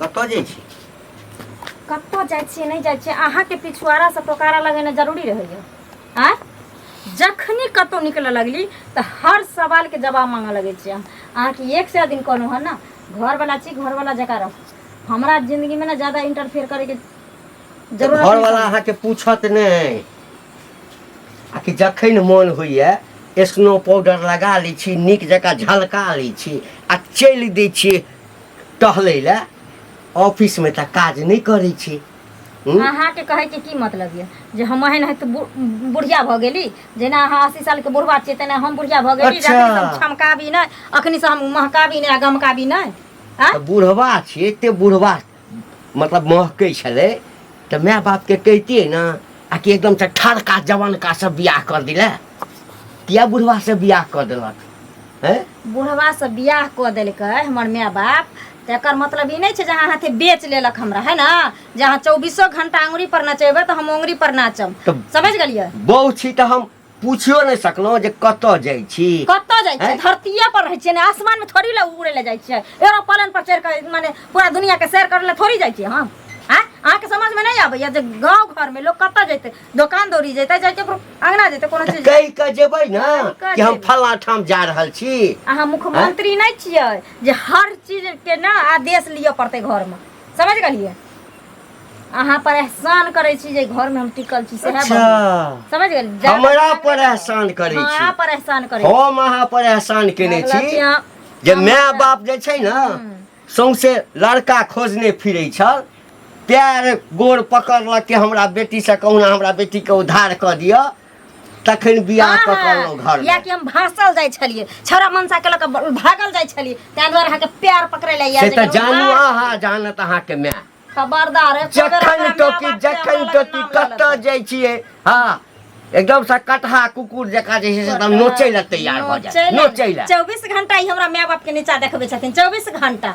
कतऽ जाइ छी कतऽ जाइ छियै नहि जाइ छियै अहाँके पिछुआरा से टोकारा लगेनाइ जरूरी रहैया आँय जखनी कतहु निकलऽ लगली तऽ हर सवालके जवाब मांगऽ लगै छियै हम अहाँके एक से दिन कहलहुँ हन ने घरवला छी घरवला जकाँ रहू हमरा जिन्दगीमे ने ज्यादा इंटरफेयर करैके जरूरत घर नहि वाला समझ- अहाँके पूछत नहि आ कि जखन मोन होइए स्नो पाउडर लगा लै छी नीक जकाँ झलका लै छी आ चलि दै छी टहलै लए ऑफिसमे तऽ काज नहि करै छी हूँ? अहाँके कहैके की मतलब यऽ जे हम एहन हथि बु- बुढ़िया भऽ गेली जेना अहाँ अस्सी सालके बुढ़वा छियै तेना हम बुढ़िया भऽ गेली जे अच्छा। अखनी से हम छमकाबी नहि अखनी से हम महकाबी नहि आ गमकाबी नहि आँय? तऽ बुढ़वा छियै एते बुढ़वा मतलब महकै छलै तऽ माय बापके कहितियै ने आ कि एकदम से ठरका जवनका से बियाह कर दिले किया बुढ़वा से बियाह कर देलक हैं बुढ़वा से बियाह कऽ देलकै हमर माय बाप तऽ एकर मतलब ई नहि छै जे अहाँ हाथे बेच लेलक हमरा है ने जे अहाँ चौबीसो घंटा अंगुरी पर नचेबै तऽ हम अंगुरी पर नाचम तऽ- समझ गेलियै बहू छी तऽ हम पूछियो नहि सकलहुँ जे कतऽ जाइ छी कतऽ जाइ छियै हैं? धरतीये पर रहै छियै ने आसमान में थोड़ी ले उड़े ले जाइ छियै एरोप्लेन पर चढ़ि कऽ माने पूरा दुनिया के सैर करे ले थोड़ी जाइ छियै हम आँय अहाँके समझ में नहीं आबैया जे गाँव घर में लोग कतऽ जैते दोकान दौड़ी जैते चाहे केकरो अंगना जैते कोनो तऽ चीज कहि कऽ जेबै ने कऽ कि हम जेबै। फलाँ ठाम जा रहल छी अहाँ मुख्यमंत्री नहीं छियै जे हर चीज के ना आदेश लिअ पड़तै घर में समझ गेलियै अहाँ पर एहसान करै छी जे घर में हम टिकल छी सएह अच्छा बात। समझ गेल जादा हमरा जादा पर जादा- एहसान करै हँ, छी। अहाँ पर एहसान करै छी। हम अहाँ पर एहसान केने मतलब कि छी अहाँ- जे हम- माय बाप जे छै ने हम्म। सौंसे लड़का खोजने फिरै छल पैर गोड़ पकड़लक कि हमरा बेटीसँ कहुना हमरा बेटीके उद्धार कऽ दिअ तखन बियाह हँ, कऽ कऽ हँ, अनलहुँ घर कियाकि हम भासल जाइ छलियै छौड़ा मनसा के लऽ कऽ ब- भागल जाइ छलियै ताहि दुआरे अहाँके प्यार पकड़े लए से तऽ जानू अहाँ जानत अहाँके माय खबरदार एक बेर जखन हमरा टोकी माय-बाप के जखन हमरा लग टोकी नाम लऽ कतऽ लेतै। जाइ छियै हँ एकदम से कटहा कुकुर जकाँ जे छै से एकदम नोचै लए तैयार भऽ जाय नोचै लए चौबीस घंटा ई हमरा माय बाप के नीचा देखबै छथिन चौबीस घंटा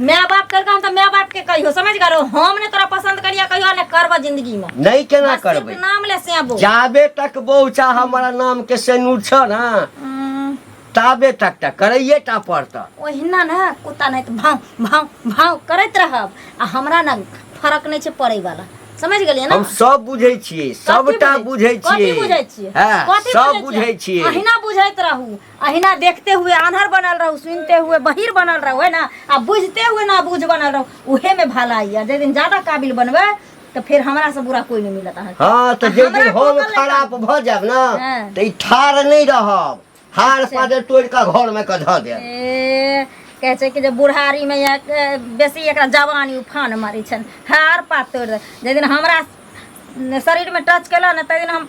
माय बाप कर काम तो माय बाप के कहियो समझ गलो हम ने तोरा पसंद करिया कहियो ने करबो जिंदगी में नहीं केना बस सिर्फ करबै नाम ले से आबो जाबे तक बौचा हमारा नाम के सेनूर छ ना हम्म, ताबे तक तक करैये टा पड़त ओहिना ने कुत्ता नहीं तो भाव भाव भाव करैत रहब आ हमरा ना फर्क नहीं छे पड़े वाला समझ गेलिए ना हम सब बुझै छियै सबटा बुझै कथी छियै बुझै छियै हँ, कथी सब बुझै बुझै छियै छियै अहिना बुझैत रहू अहिना देखते हुए आन्हर बनल रहू सुनते हुए बहिर बनल रहू है ना आ बुझते हुए ना बुझ बनल रहू उहे में भलाई है जे दिन ज्यादा काबिल बनबे तो फिर हमरा से बुरा कोई नहीं मिलत अहाँ के। हाँ तो जे हमरा दिन हम कोमल खराब भ जाब ना हाँ। तो ई ठार नहीं रहब हार पादे तोड़ के घर में के धऽ देब ए, कहै छै कि जे बुढ़ारी में या ए, बेसी एकरा जवानी उफान मारै छनि हार पात तोड़ि दे जाहि दिन हमरा शरीर में टच केलक ने ताहि दिन हम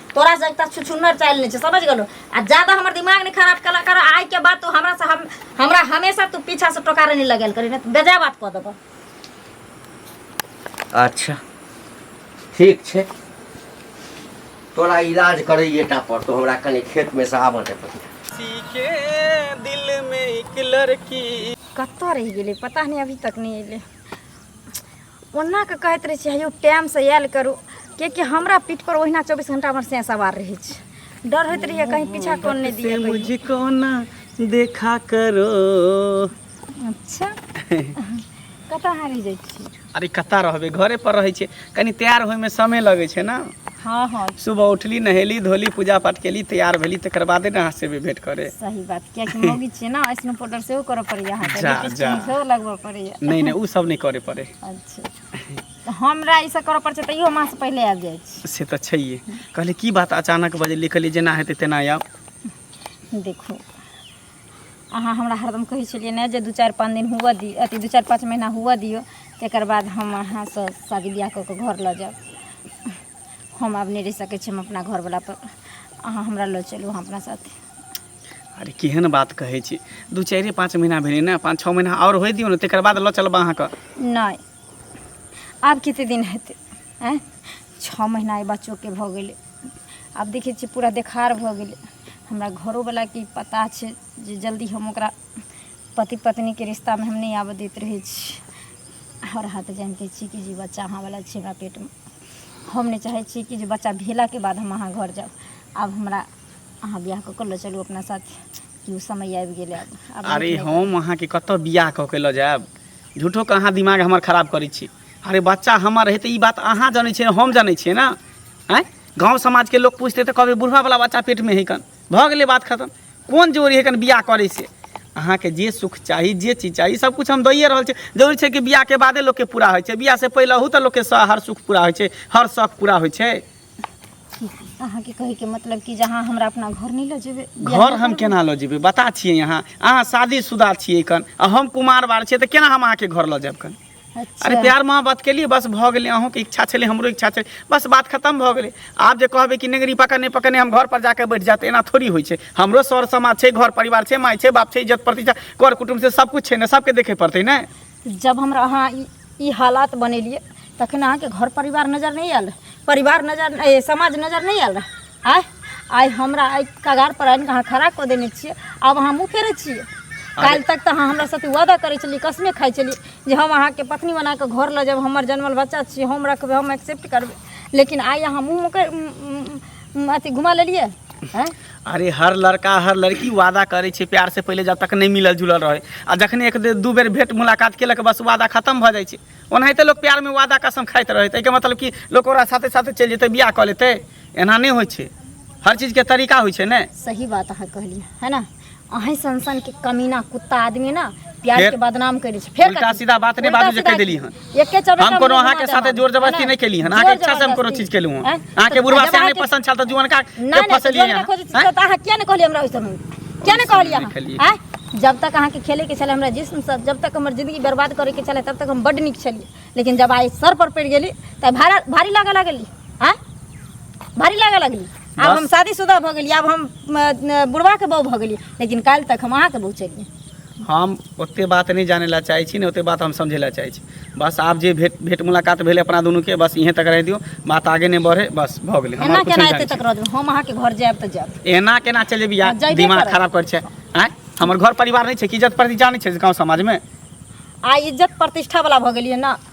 तोरा से एकटा छुछुन्नर चालि नहि छै समझ गेलो आ ज्यादा हमर दिमाग नहि खराब कला कर आइ के बाद तू हमरा से हम हमरा हमेशा तू पीछा से टोकारे नहि लगेल करी नहि बेजा बात कऽ देबो अच्छा ठीक छै तोरा इलाज करैए टा पर तो हमरा कनि खेत में से आबऽ दे पहिले। किसी के दिल में एक लड़की कतऽ रहि गेलै पता नहि अभी तक नहि एलै ओना के कहैत रहै छी हयौ टाइम से आयल करू कियाकि हमरा पीठ पर ओहिना चौबीस घंटा हमर से सवार रहै छै डर होइत रहैया कहीं पीछा कोन नहीं दिए मुझको ना देखा करो अच्छा कतऽ अहाँ रहि जाइ छी अरे कतऽ रहबै घरे पर रहै छै कनी तैयार होइमे समय लगै छै ने हाँ हाँ सुबह उठली नहेली धोली पूजा पाठ केली तैयार भेली तकर बादे ने अहाँ से भेंट करे सही बात कियाकि मौगी छियै ने ऐसनो पाउडर सेहो करऽ पड़ैया अहाँके जा, जा। सेहो लगबऽ पड़ैया पड़ैया नहि नहि ओ सब नहि करय पड़ै अच्छा तऽ हमरा ई सब करऽ पड़ै छै तैयो हम अहाँसँ पहिले आबि जाइ छी से तऽ छैहे कहलियै की बात अचानक बजलियै कहलियै जेना हेतै तेना आयब देखू अहाँ हमरा हरदम कहै छलियै ने जे दू चारि पाँच दिन हुअ दियौ अथी दू चारि पाँच महीना हुअ दियौ तकर बाद हम अहाँसँ शादी बियाह कऽ कऽ घर लऽ जायब हम आब नहि रहि सकै छी हम अपना घरवला पर अहाँ हमरा लऽ चलू अहाँ अपना साथे अरे केहन बात कहै छी दू चारिए पाँच महीना भेलै ने पाँच छओ महीना आओर होइ दियौ ने तकर बाद लऽ चलब अहाँके नहि आब कते दिन हेतै आँय छओ महीना एहि बच्चोके भऽ गेलै आब देखै छियै पूरा देखार भऽ गेलै हमरा घरोवलाके ई पता छै जे जल्दी हम ओकरा पति पत्नीके रिश्तामे हम नहि आबऽ दैत रहै छी हर हाथ जानिते छी कि जे बच्चा अहाँवला छै हमरा पेटमे हम नहि चाहै छी कि जे बच्चा भेलाके बाद हम अहाँ घर जाउ आब हमरा अहाँ बियाह कऽ कऽ लऽ चलू अपना साथ कि ओ समय आबि गेलै आब आब अरे नीक नहि हम अहाँके कतऽ बियाह कऽ के लऽ जायब झूठो के अहाँ दिमाग हमर खराब करै छी अरे बच्चा हमर रहै तऽ ई बात अहाँ जानै छियै हम जानै छियै ने आँय गाँव समाजके लोक पूछतै तऽ कहबै बुढ़वावला बच्चा पेटमे है कन भऽ गेलै बात खतम कोन जोड़ी है कन बियाह करै से अहाँके जे सुख चाही जे चीज चाही सब कुछ हम दैए रहल छी जरूरी छै कि बियाहके बादे लोकके पूरा होइ छै बियाहसँ पहिले ओहू तऽ लोकके स- हर सुख पूरा होइ छै हर शौक पूरा होइ छै अहाँके कहैके मतलब कि जे अहाँ हमरा अपना घर नहि लऽ जेबै घर हम केना लऽ जेबै बता छियै अहाँ अहाँ शादीशुदा छियै कन आ हम कुमार बार छियै तऽ केना हम अहाँके घर लऽ जायब कन अच्छा। अरे प्यार मोहब्बत के लिए बस भऽ गेलै अहूँके इच्छा छलै हमरो इच्छा छलै बस बात खतम भऽ गेलै आब जे कहबै कि नेंगरी पकड़ नहि पकड़ने हम घर पर जाके बैठ जाते एना थोड़ी होइ छै हमरो सर समाज छै घर परिवार छै माय छै बाप छै इज्जत प्रतिष्ठा कर कुटुम्ब छै सब कुछ छै ने सबके देखे पड़तै ने जब हमरा अहाँ ई ई हालात बनेलियै तखन अहाँके घर परिवार नजर नहि आयल रहय परिवार नजर ए समाज नजर नहि आयल रहय आँय आइ हमरा एहि कगारपर आनि कऽ अहाँ खड़ा कऽ देने छियै आब अहाँ मुँह फेरै छियै काल्हि तक तऽ अहाँ हमरा साथे वादा करै छलियै कसमे खाइ छलियै जे हम अहाँके पत्नी बना कऽ घर लऽ जायब हमर जनमल बच्चा छियै हम रखबै हम एक्सेप्ट करबै लेकिन आइ अहाँ मुँह मोकै अथी घुमा लेलियै आँय अरे हर लड़का हर लड़की वादा करै छै प्यारसँ पहिले जब तक नहि मिलल जुलल रहै आ जखने एक दू बेर भेट मुलाकात केलक बस वादा खतम भऽ जाइ छै ओनाहिते लोक प्यारमे वादा कसम खाइत रहै ताहिके मतलब कि लोक ओकरा साथे साथे चलि जेतै बियाह कऽ लेतै एना नहि होइ छै हर चीजके तरीका होइ छै ने सही बात अहाँ कहलियै है ना अहीं सनसनके कमीना कुत्ता आदमी ना प्यार फेर- के बदनाम करै छै फेर उल्टा कथी? सीधा बात नहि उल्टा बाजू जे सीधा कहि देली हन एके चौराहा हम कोनो अहाँके साथे जोर जबरदस्ती नहि केली हन अहाँके इच्छा से हम कोनो चीज केलहुँ हन अहाँके बुढ़वा से नहि पसंद छल तऽ जुअन का के फसलियै हन अहाँ किया नहि कहलियै हमरा ओइ समय किया नहि कहलियै अहाँ जब तक अहाँके खेलैके छलै हमरा जिस्मसँ जब तक हमर जिंदगी बर्बाद करैके छलै तब तक हम बड्ड नीक छलियै लेकिन जब आइ सर पर पड़ि गेली तऽ भारी लागऽ लगली आँय भारी लागऽ लगली आब बस। हम शादीशुदा भऽ गेलियै आब हम अ, बुढ़बाके बहू भऽ गेलियै लेकिन काल्हि तक हम अहाँके बहू चलियै हम ओते बात नहि जाने ला चाहै छी ने ओते बात हम समझे ला चाहै छी बस आब जे भेट भेट मुलाकात भेल अपना दुनू के बस इहें तक रह दियो बात आगे नहि बढ़े बस भऽ गेलै एना हमर कुछ केना नहि एते जानै तक रह देबै हम अहाँके घर जायब तऽ जायब छी। एना केना चले बिया हँ, जइबे दिमाग करब। खराब करै छै आँय हमर घर परिवार नहि छै कि इज्जत प्रतिष्ठा नहि छै गाँव समाजमे आ इज्जत प्रतिष्ठा वाला भऽ गेलियै ने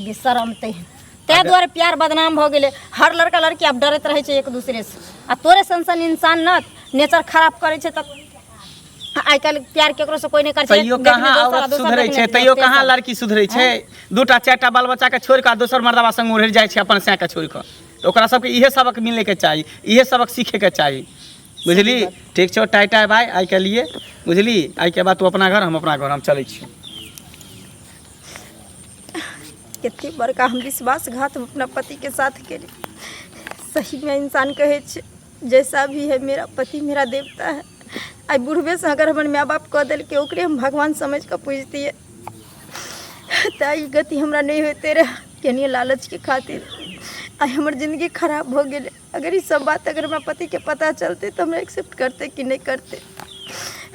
बेशरमते ताहि दुआरे प्यार बदनाम भऽ गेलै हर लड़का लड़की आब डरैत रहै छै एक दूसरेसँ आ तोरे सन सन इंसान न नेचर खराब करै छै तऽ आइ काल्हि प्यार ककरोसँ कोइ नहि करै छै तैयो देखने कहाँ दोसर आ औरत दोसर सुधरै देखने छै दोसर तैयो तेसर। कहाँ लड़की सुधरै छै दूटा चारिटा बाल बच्चाके छोड़ि कऽ दोसर मर्दबा संग उड़ि जाइ छै अपन सैके छोड़ि कऽ तऽ ओकरा सबके इहे सबक मिलैके चाही इहे सबक सीखैके चाही बुझली ठीक छौ टाइ टाइ भाय आइके लिए बुझली आइके बाद तू अपना घर हम अपना घर हम चलै छी कते बड़का हम विश्वासघात हम अपना पतिके साथ केली सहीमे इंसान कहै छै जैसा भी है मेरा पति मेरा देवता है आइ बुढ़बेसँ अगर हमर माय बाप कऽ देलकै ओकरे हम भगवान समझ कऽ पूजतियै तऽ ई गति हमरा नहि होइते रहए केनिये लालचके खातिर आइ हमर जिनगी खराब भऽ गेलै अगर ई सब बात अगर हमरा पतिके पता चलतै तऽ हमरा एक्सेप्ट करतै कि नहि करतै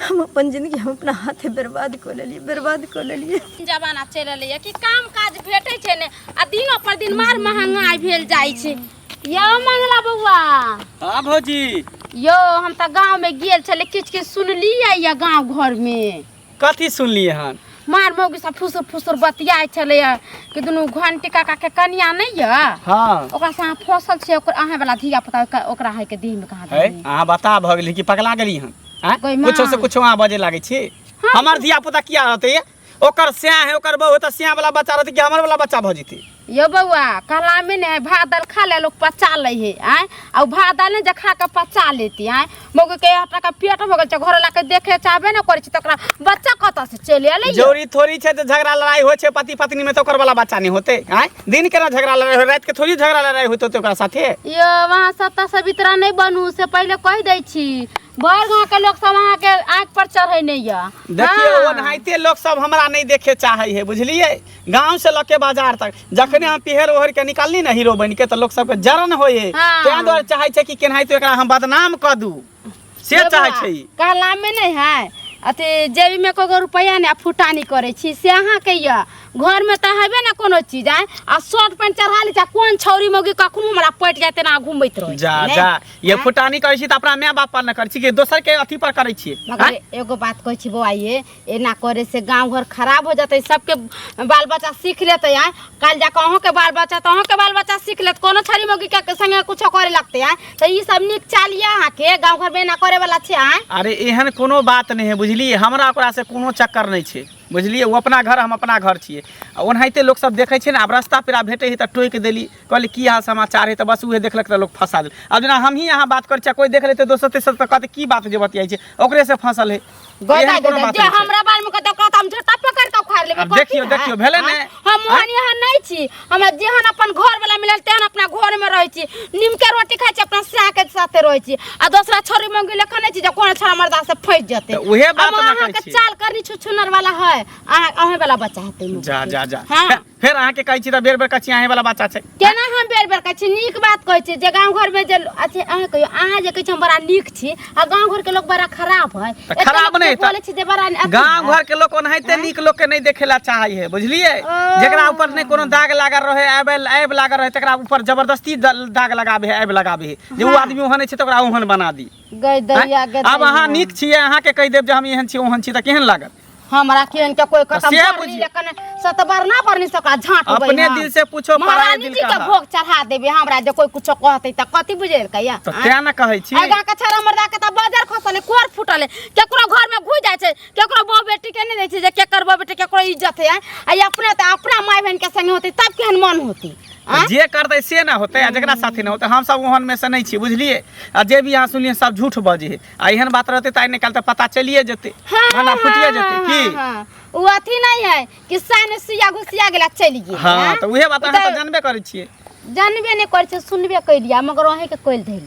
हम अपन जिंदगी हम अपना हाथे बर्बाद कऽ लेलियै बर्बाद कऽ लेलियै जमाना चलि रहलैए कि काम काज भेटै छै ने आ दिनो पर दिन मार महंगाई भेल जाइ छै यौ मंगला बौआ हाँ भौजी यौ हम तऽ गाँवमे गेल छलियै किछु किछु सुनलियै यऽ गाँव घरमे कथी सुनलिए हन मार मौगी सब फुसुर फुसुर बतियाइ छलै हँ कि दुनू घंटी काका के कनिया नहीं है हाँ ओकरा से अहाँ फसल छै ओकर अहाँ वाला धिया पुता ओकर- ओकरा है के देह में कहाँ है देनी अहाँ बता भऽ गेली कि पगला गेली हन आँय? कोइ माँ। कुछो से कुछो अहाँ बजे लागै छी हमर धिया पुता किया रहतै ये? ओकर स्याह है ओकर बहू है तऽ स्याह वाला बच्चा रहतै कि हमर वाला बच्चा भऽ जेतै यौ बौआ कलामे ने है भात दालि खा ले लोग पचा ले है आय आ उ भात दालि ने जे खा के पचा लेती आय मौगी के यहाँ तक पेट भगल छै घर ला के देखे चाहबे ने करे छै तकरा बच्चा कतऽ से चले अलै जोड़ी थोड़ी छै तऽ झगड़ा लड़ाई होइ छै पति पत्नी में तऽ ओकर वाला बच्चा नहि होते आय दिन केना झगड़ा लड़ाई हो राति के थोड़ी झगड़ा लड़ाई होते होते ओकरा साथे यो वहाँ सत्ता सवित्रा नहीं बनू से पहले कह दै छी बड़ गाँव के लोग सब अहाँ के आँख पर चढ़े नहीं यऽ देखियौ हाँ। ओनाहिते लोक सब हमरा नहि देखे चाहे है बुझलियै गांव से लके बाजार तक जखने हम पिहर ओहर के निकालनी ना हीरो बन के तो लोग सबके जरन होए हाँ। तें द्वारे चाहे छै कि केनाहि तो एकरा हम बदनाम क दू से चाहे छै ई। कहला में नहीं है अथी जेबी में कोगो रुपया ने फुटानी करे छी से अहाँ के ये घर में तो हेबे ना कोनो चीज आए आ शर्ट पैंट चढ़ा ली जा कोन छौरी मौगी कखनो हमरा पट जाते ना घूमैत रहे जा जा ये फुटानी करै छी त अपना माय बाप पर न करै छी कि दोसर के अथी पर करै छी मगर एगो बात कहै छी बौआ ये एना करे से गांव घर खराब हो जाते सबके बाल बच्चा सीख लेते हैं कल जाकर अहूँ के बाल बच्चा तो अहूँ के बाल बच्चा सीख लेते कोनो छड़ी मोगी के संगे कुछ करे लगते हैं तो ये सब निक चालिए अहाँ के गांव घर में एना करे वाला छे हैं अरे एहन कोनो बात नहीं है बुझलिए हमरा ओकरा से कोनो चक्कर नहीं छै बुझलिए वो अपना घर हम अपना घर छिए आ ओनाहिते लोग सब देखे छै ने आब रास्ता पेरा भेटे है तो टोकि देली कहली की हाल समाचार है तो बस उहे देखलक तो लोग फंसा देल अब जेना हमही अहाँ बात कर छियै कोई देख लेते दोसर तेसर तो कहते की बात जे बतियाई छै ओकरे से फंसल है गदा एहन कोनो गदा बात जे नहि छै। हमरा बारे में कहता कहता हम झोटा पकड़ के उखाड़ लेबे आब कथी देखियौ, है? देखियौ, भेलै ने? आँय? हम मोहन यहाँ नहीं छी हमरा जेहन अपन घर वाला मिलल तेहन अपना घर में रहे छी नीम के रोटी खाई छी अपना साह के साथे रहे छी आ दूसरा छोरी मंगी लेखा नहीं छी जे कोन छोरा मर्दा से फंस जते तऽ उहे बात हम ने अहाँ कहै के छी। चाल करनी छुछुनर वाला है अहाँ अहे वाला बच्चा हेतै मुँह जा के। जा जा हाँ फेर अहाँ के कहै छी त बेर बेर कछि आहे वाला बच्चा छै केना हम बेर बेर कहै छी नीक बात कहै छी जे गांव घर में जे अथी अहाँ कहियो अहाँ जे कहै छी हम बड़ा नीक छी आ गांव घर के लोग बड़ा खराब है त एते खराब लोग नै जे त बोलै छी जे बड़ा अथी गांव है। घर के लोग ओनाहिते नीक लोग के नै देखेला चाहै है बुझलिए ओ। जेकरा ऊपर नै कोनो दाग लागल रहे आब आब लागल रहे तकरा ऊपर जबरदस्ती द- दाग लगाबे है आब लगाबे है जे उ आदमी ओहन छै त ओकरा ओहन बना दी गई दैया गई आब अहाँ दैया। नीक छियै अहाँके कहि देब जे हम एहन छी ओहन छी तऽ केहन लागत हमरा केहन के कोई खतम सएह कर बुझियौ। ली कने सतबर ना परनी सका झांट होबै अपने हम। दिल से पूछो, पराये महारानी दिल जी का के हाल। भोग चढ़ा देबे हमरा जे कोई कुछो कहते त कथि बुझे कहिया तऽ तें ने कहै छी आगा के छरा मर्दा के त बाजार खसले कोर फुटले केकरो घर में घुस जाय छै केकरो बो बेटी के नहीं रहे छै जे केकर बो बेटी केकरो इज्जत है आ ई अपने त अपना माय बहन के संगे होते तब केहन मन होती आ? जे करतै से ने होतै आ जकरा साथे ने होतै हमसभ ओहन में से नहि छी बुझलियै आ जे भी अहाँ सुनलियै सब झूठ बजै है आ एहन बात रहतै तऽ आइ निकाल तऽ पता चलिए जेतै हाँ, भला फुटिए हाँ, जेतै हाँ, की हाँ, हाँ। उ अथी नहीं है कि सान में सुइया घुसिया गेला चलि गेल हाँ हाँ? तऽ उहे बात उ अहाँ तऽ तऽ जानबे करै छियै जानबे नहीं करे छे सुनबे कैलिया मगर अहें के कोइल धैल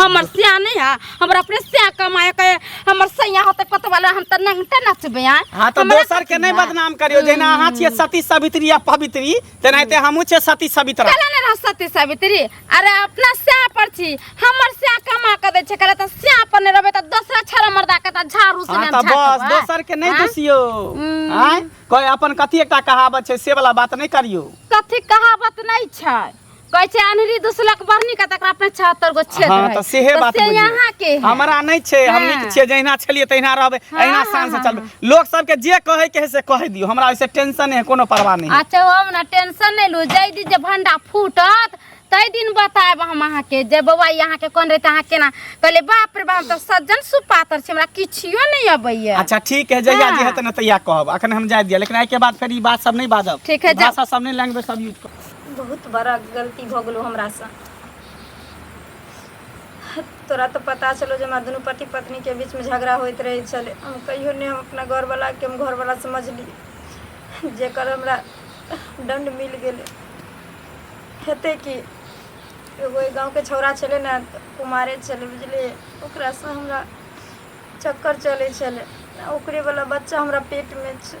हमर सिया नहीं है हमर अपने सिया कमाए के हमर सैया होते पत वाला हम त नंगटे नचबे हैं हाँ तो हमरा दोसर के कथी नहीं बा? बदनाम करियो जेना अहाँ छियै सती सावित्री या पवित्री तेनाहिते हमहूँ छियै सती सावित्रा चले ने रह सती सावित्री अरे अपना सिया पर छी हमर सिया कमा के दे छै करे त सिया पर ने रहबे त दोसरा छरा मर्दा के त झाड़ू से हाँ ने तो बस दोसर के नहीं दुसियो हम्म। आँय कोई अपन कथी एकटा कहावत छै से वाला बात नहीं करियो कथी कहावत नहीं छै कहै छै अनहरी दुसलक बरनी के तकरा अपने 76 गो छेद हाँ, है तो सेहे तो बात से बुझिए। यहाँ के है। हमरा नहीं छे हाँ। हमनी के छे जहिना छलिए तहिना रहबे हाँ, अहिना हाँ, शान से हाँ, चलबे लोग सब के जे कहे के है से कह दियो हमरा ओइसे टेंशन है कोनो परवाह नहीं अच्छा हम ना टेंशन नहीं लू जय दिन जे भंडा फूटत तई दिन बताएब हम अहाँ के जे बौआ ई अहाँ के कोन रहते अहाँ केना कहले बाप रे बाप तो सज्जन सुपातर छै हमरा किछियो नहीं अबैया अच्छा ठीक है जहिया हाँ। जे हेतै ने तहिया कहब अखन हम जाय दिया लेकिन आइ के बाद फिर ई बात सब नहीं बाजब ठीक है, जा। भाषा सब नहीं लैंग्वेज सब यूज कर बहुत बड़ा गलती भऽ गेलो हमरासँ तोरा तऽ पता छलो जे हमरा दुनू पति पत्नीके बीचमे झगड़ा होइत रहै छलै हम कहियो नहि हम अपना घरवलाके हम घरवला समझली जेकर हमरा दण्ड मिल गेलै हेतै कि एगो एहि गाँवके छौड़ा छलै ने कुमारे छलै बुझलियै ओकरासँ हमरा चक्कर चलै छलै ओकरेवला बच्चा हमरा पेटमे छै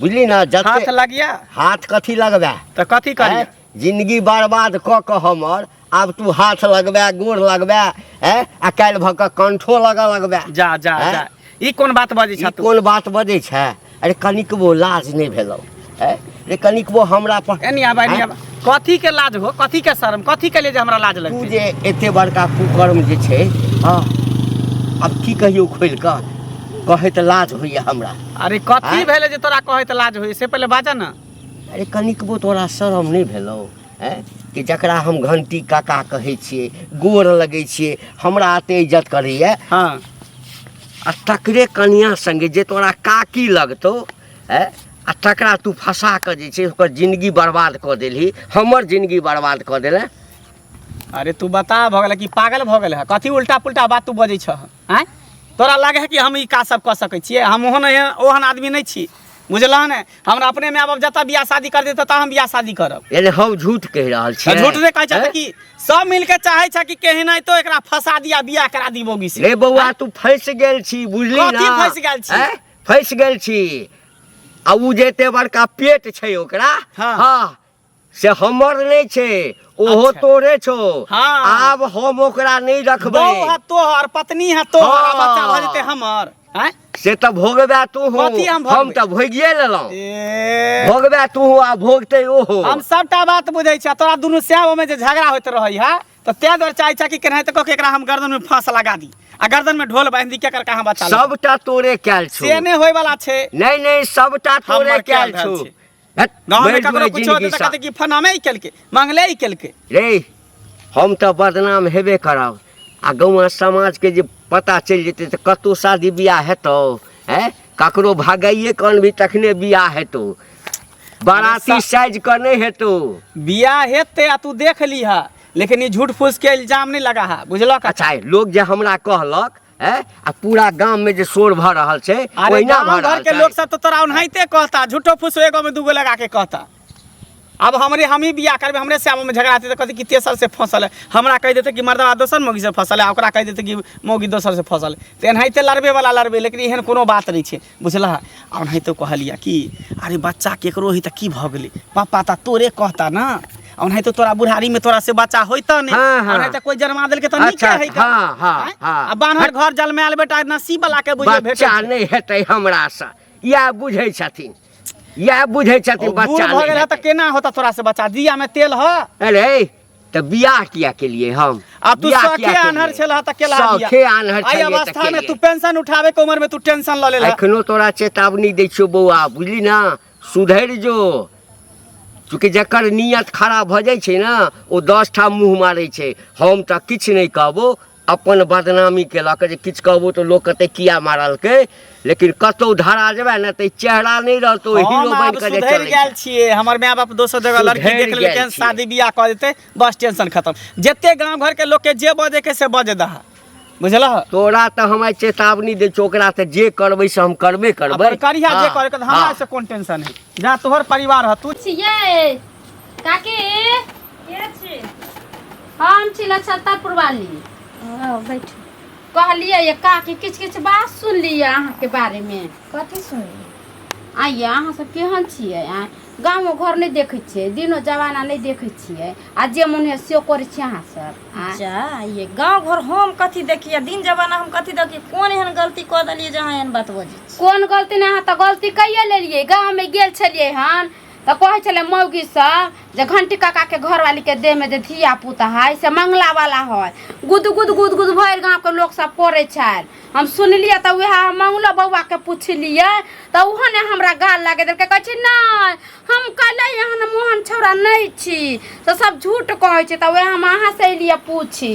बुझली ना जब हाथ लगिया हाथ कथी लगबे तो कथी करिया जिंदगी बर्बाद क के हमर आब तू हाथ लगबे गोर लगबे ए आ काल भ के कंठो लगा लगबे जा जा जा ई कोन बात बजे छ तू कोन बात बजे छ अरे कनिकबो लाज नहीं भेलो ए रे कनिकबो हमरा पर एनी आबा एनी आबा कथी के लाज हो कथी के शर्म कथी के लिए जे हमरा लाज तू लगतै जे एते बड़का कुकर्म जे छै हँ आब की कहियौ खोलि कऽ कहै तऽ लाज होइए हमरा अरे कथी आँय? भेलै जे तोरा कहै तऽ लाज होय से पहिले बाजा न अरे कनिकबो तोरा शरम नहि भेलौ हैं कि जकरा हम घंटी काका कहै छियै गोर लगै छियै हमरा एते इज्जत करैए हँ आ तकरे कनिया संगे जे तोरा काकी लगतौ है आ तकरा तू फंसा कऽ जे छै ओकर जिंदगी बर्बाद कऽ देलही हमर जिंदगी बर्बाद कऽ देले अरे तू बता भऽ गेल कि पागल भऽ गेल है कथी उल्टा पुल्टा बात तू बजै छह आँय तोरा लगे है कि हम ई काज सब कऽ सकै छियै हम ओहन एहन- ओहन आदमी नहि छी बुझलह ने हमरा अपने माय बाप जतऽ बियाह शादी कर देतै ततऽ हम बियाह शादी करब यानी हम झूठ कहि रहल छी तऽ झूठ नहि कहै छह कि सब मिल के चाहै छह कि केहनाइतो एकरा फंसा दिया बियाह करा दी बोगी से रे बौआ तू फंस गेल छी बुझली कथी ना? फँसि गेल छी? हैं? फँसि गेल छी आ ओ जे एते बड़का पेट छै ओकरा हाँ। हाँ से हमर नहि छै ओहो अच्छा। तोरे छो हाँ। आब हम ओकरा नहि बहू रखबै है तोहर पत्नी है तोहर आ बच्चा भऽ जेतै हमर हैं? से तऽ भोगबे तू हो कथी हम भोगबै? हम तऽ भोगिए लेलहुँ ए, भोगबे तू हो आ भोगते ओहो हम सबटा बात बुझै छियै तोरा दुनू श्याम में जे झगड़ा होइत रहै है तो तै दर चाहे चाहे कि केना तो कह एकरा हम गर्दन में फांस लगा दी आ गर्दन में ढोल बांध दी के कर कहां बचा लो सबटा तोरे कैल छो से ने होय वाला छे नहीं नहीं सबटा तोरे हमर कैल कैल छो धन छै। हट, गांव में बैठ ककरो बैठ कुछ जिंदगी होते तो सा। कहते कि फना में ही केलके मंगले ही केलके रे हम तऽ बदनाम हेबे करब आ गौआ समाजके जे पता चलि जेतै तऽ कतहु शादी बियाह हेतौ हैं ककरो भगाइए कऽ अनबही तखने बियाह हेतौ बाराती साइज का नहीं है तो बियाह हेते आ तू देख लीह लेकिन ई झूठ फूस के इल्जाम नहीं लगा है बुझलक अच्छा है, लोग जे हमरा कहलक है आ पूरा गांव में जे शोर भऽ रहल छै अरे ओहिना गाँव भऽ घर रहल के छै लोग सब तो तोरा ओनाहिते कहता झूठो फूस एगो में दूगो लगा के कहता अब हमरे हम ही बियाह करबे हमरे से में झगड़ा होते तो कहते कि तेसर से फसल है हमरा कह देते कि मर्दवा दोसर मौगी से फसल है आ ओकरा कह देते कि मौगी दोसर से फसल है तो एनाहिते लड़बे वाला लड़बे लेकिन एहन कोनो बात नहीं छै बुझलह आ नहि तऽ कहलियै कि अरे बच्चा केकरो ही तऽ की भऽ गेलै पापा तऽ तोरे कहता ने ओनाहि तो तोरा बुढ़ारी में तोरा से बच्चा होता ने हाँ, हाँ। तो कोई जन्मा दिल के तो नहीं अच्छा, कहे हाँ, हाँ, हाँ। बानर घर जल में आल बेटा नसीब वाला के बुझे बच्चा नहीं हेतै हमरा से या बुझे छथिन या बुझे छथिन बच्चा नहीं हेतै त केना होता तोरा से बच्चा दिया में तेल ह अरे तऽ बियाह किया केलिए हम अब तू बियाह शौखे किया केलिए? आन्हर छेला त केला बिया। शौखे आन्हर आई छलिए तऽ अवस्था में केलिए। तू पेंशन उठावे के उम्र में तू टेंशन ल लेला एखनो तोरा चेतावनी दै छियौ बौआ बुझली ना सुधरि जो चूँकि जकर नियत खराब भऽ जाइ छै ने ओ दस ठाम मुँह मारै छै हम तऽ किछु नहि कहबो अपन बदनामी केलक जे किछु कहबो तऽ लोक कहतै किया मारलकै लेकिन कतौ धरा जेबै ने तऽ ई चेहरा नहि रहतौ हम हीरो आब बनि कऽ जे सुधरि चलै गेल छै। छियै हमर माय बाप दोसर जगह लड़की सुधरि देख गेल लेलकै छियै। शादी बियाह कऽ देतै बस टेंशन खत्म जते गांव घर के लोग के जे बजे के से बजे दहा बुझलह तोरा तऽ हम आइ चेतावनी दै छियौ ओकरा तऽ जे करबै से हम करबे करबै अगर करिया जे हाँ, करे के हमरा हाँ। से कोन टेंशन है जा तोहर परिवार ह तू छियै काकी के छी हम छी लक्षता पुरवाली आओ बैठू कहलिए ये काकी किछु किछु बात सुनलिए अहाँके बारेमे कथी सुनली आइए अहाँ सब केहन छियै आ गाँवो घर नहि देखै छियै दिनो जमाना नहि देखै छियै आ जे मोन होइए से करै छियै अहाँ सब आ जा ये गाँव घर हम कथी देखिए दिन जमाना हम कथी देखिए कोन एहन गलती कऽ देलिए जे अहाँ एहन बात बजै छी कोन गलती नहि अहाँ तऽ गलती कैये लेलियै गाँवमे गेल छलियै हन तऽ कहै छलै मौगी सब जे घंटी काका के घरवाली के देह में जे धिया पुता है से मंगला वाला है गुद गुद गुद गुद भर गांव के लोग सब करे छल हम सुनलिए तऽ वएह हम मंगलो बौआ के पूछलिए तऽ उहो ने हमरा गाल लगे देलकै कहै छै नहि हम कले एहन मोहन छौड़ा नहि छी तऽ सब झूठ कहै छै तऽ वएह हम अहाँ से एलिए पूछी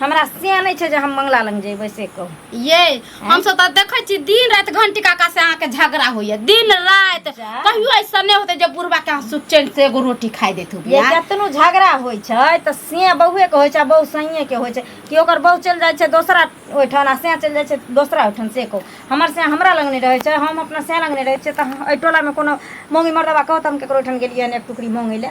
हमरा से नहि छै जे हम मंगला लग जेबै से कहू ये हम सब तऽ देखै छी दिन राति घंटी काका से अहाँके झगड़ा होइए दिन राति जा। कहियो ऐसा नहि होते जे बुढ़बा के अहाँ सुख चैन से एगो रोटी खाइ देत हो ये कतनो झगड़ा होइ छै तऽ से बहुए के होइ छै आ बहु सैये के होइ छै कि ओकर बहु चलि जाइ छै दोसरा ओहिठाम आ से चलि जाइ छै दोसरा ओहिठाम से कहू हमर से हमरा लग नहि रहै छै हम अपना से लग नहि रहै छियै तऽ हम- एहि टोलामे कोनो मौगी मरदबा कहत हम ककरो ओहिठाम गेलियै हन एक टुकड़ी मौंगै लए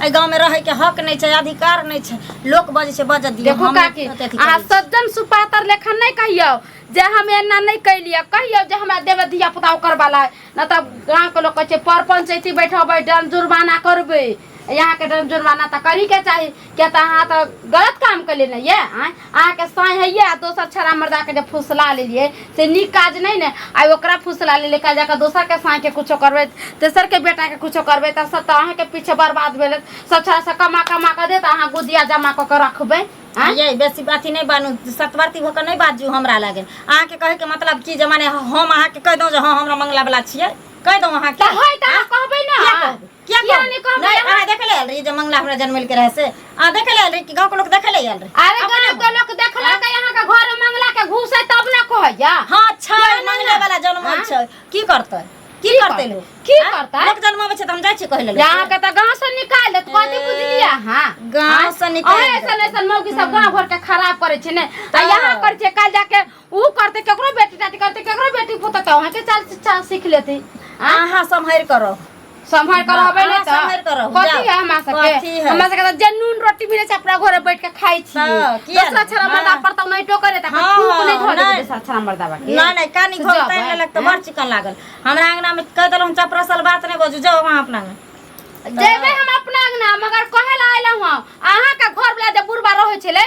एहि गाँव में रहे के हक नहीं छै अधिकार नहीं छै लोक बजे छै बजे दियो देखो हम नहीं काकी अथी अहाँ करी। सज्जन सुपातर लेखन नहीं कहियो जे हम एना नहीं कैलिए कहियो जे हमरा देवे धिया पुता ओकर वाला न तब गाँव के लोग कहे पर पंचायती बैठबै डन जुर्माना करबै यहाँ के डन जुर्माना तो करी के चाहिए क्या तो अहाँ तो गलत काम कैले नहीं ये आँय? अहाँके साँइ हइए आ दोसर छड़ा मर्दाके जे फुसला लेलिए से नीक काज नहि ने आइ ओकरा फुसला लेलिए काल्हि जाकऽ दोसरके साँइके किछो करबै तेसरके बेटाके किछो करबै तऽ सब तऽ अहाँके पीछे बर्बाद भेल सब छड़ासँ कमा कमा कऽ देत अहाँ गुदिया जमा कऽ कऽ रखबै आँय? ये बेसी अथी नहि बनू सतवर्ती भऽ कऽ नहि बाजू हमरा लगे अहाँके कहैके मतलब की जे माने हम अहाँके कहि दौं जे हँ हमरा मंगला बला छियै कहि दौं अहाँके तऽ होइ तऽ अहाँ कहबै ने किया कहबै? किया किया कहब? नहीं कहब? नहीं अहाँ देखे ले आयल रही जे मंगला हमरा जनमल के रहे से अहाँ देखे ले आयल रही कि गांव के लोग देखे ले आयल रहे अरे अपने गाँव के लोग देखला के यहाँ के घर में मंगला के घूस है तब ना कहैया हां अच्छा किया नहीं मंगले ना? वाला जनमल हाँ? छै की करतै की की करतै करतै? लोग की हाँ? करतै? लोग जनमाबै छै त हम जाइ छी कहै ले लोग। यहाँ के तो गाँव से निकाल देत कथी बुझलिया हाँ गाँव से निकाल अहे देत। ऐसन ऐसन मौगी सब गाँव घर के खराब करे छै ने आ यहाँ करे छै काल जाके ऊ करते केकरो बेटी टाटी करते केकरो बेटी पुत तो वहां के चाल चाल सीख लेती अहाँ सम्हरि करो संभाल कर होबे अहाँ ने तो सम्हरि करब, कथी जाउ। है हमरा सब कथी के है? हमरा सब के तो जनून रोटी मिले छै अपना घरे बैठ के खाई छी हाँ, किया दूसरा ने? छरा मर्दा हाँ। पर तो नहीं टोकर है तकर हाँ, थूक नहीं धोले नहीं। दूसरा छरा मर्दा बा के नहीं नहीं कानी से घोल जाउ, तैन हैं? लेलक तऽ बड़ चिकन लागल हमरा अंगना में कह देलहुँ चपरसल बात नहीं बजू जाओ वहाँ अपना में जेबे हम अपना अंगना मगर कहे ला आइलहुं हँ अहाँ के घर वाला जे बुढ़बा रहै छलै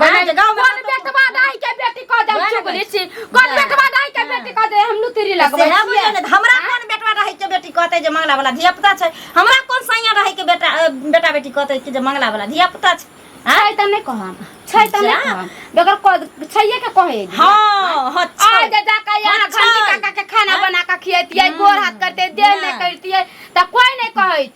गाना जे गाँव में कौन कतौ- बेटवा दाई के बेटी कह दे गाना चुगली गाना। छी कौन गाना। बेटवा दाई के बेटी कह दे हम लुतरी लगबै सेहे छियै। बुझल है, हमरा कोन बेटवा रहै के बेटी कहते जे मंगला वाला धिया पुता छै हमरा कोन सैया रहै के बेटा अ, बेटा बेटी कहते कि जे मंगला वाला धिया पुता छै आँय? छै त नै कहम छै त नै जा। कहम बेगर कह छैये के कहे दी। हाँ हाँ आ छै। जे जाके यहाँ हाँ, घंटी छै। काका के खाना हाँ। बना के खियतियै गोर हाथ करते देह हाँ। नै करतियै त कोई नै कहै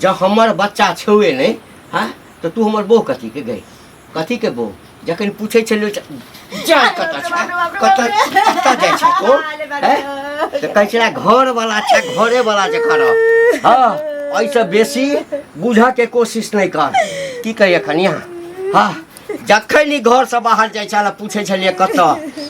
जँ हमर बच्चा छौए नहि हँ तऽ तू हमर बो कथीके गई कथीके बो जखन पूछै छलियो जा कतऽ छै कतऽ कतऽ जाइ छै तो तऽ कहै छलै घरवला छै घरेवला जखन हँ एहिसँ बेसी बुझऽके कोशिश नहि कर की कही एखन यहाँ हँ जखन ई घरसँ बाहर जाइ छल पूछै छलियै कतऽ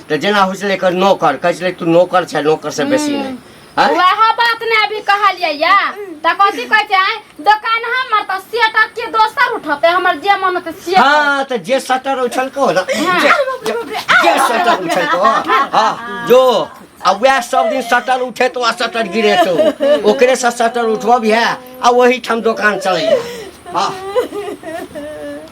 तऽ जेना होइ छलै एकर नौकर कहै छलै तू नौकर छै नौकरसँ बेसी नहि आँय? वह बात ने अभी कहलिए या त कथी कहै छै आँय? दोकान हमर त सेटक के दोसर उठते हमर जे मन होते से हाँ तो जे सटर उछल को ना हाँ। जे जे सटर उछल को हाँ जो अब वह सब दिन सटर उठे तो आ सटर गिरे तो ओकरे से सटर उठब है आ वही ठाम दुकान चले हाँ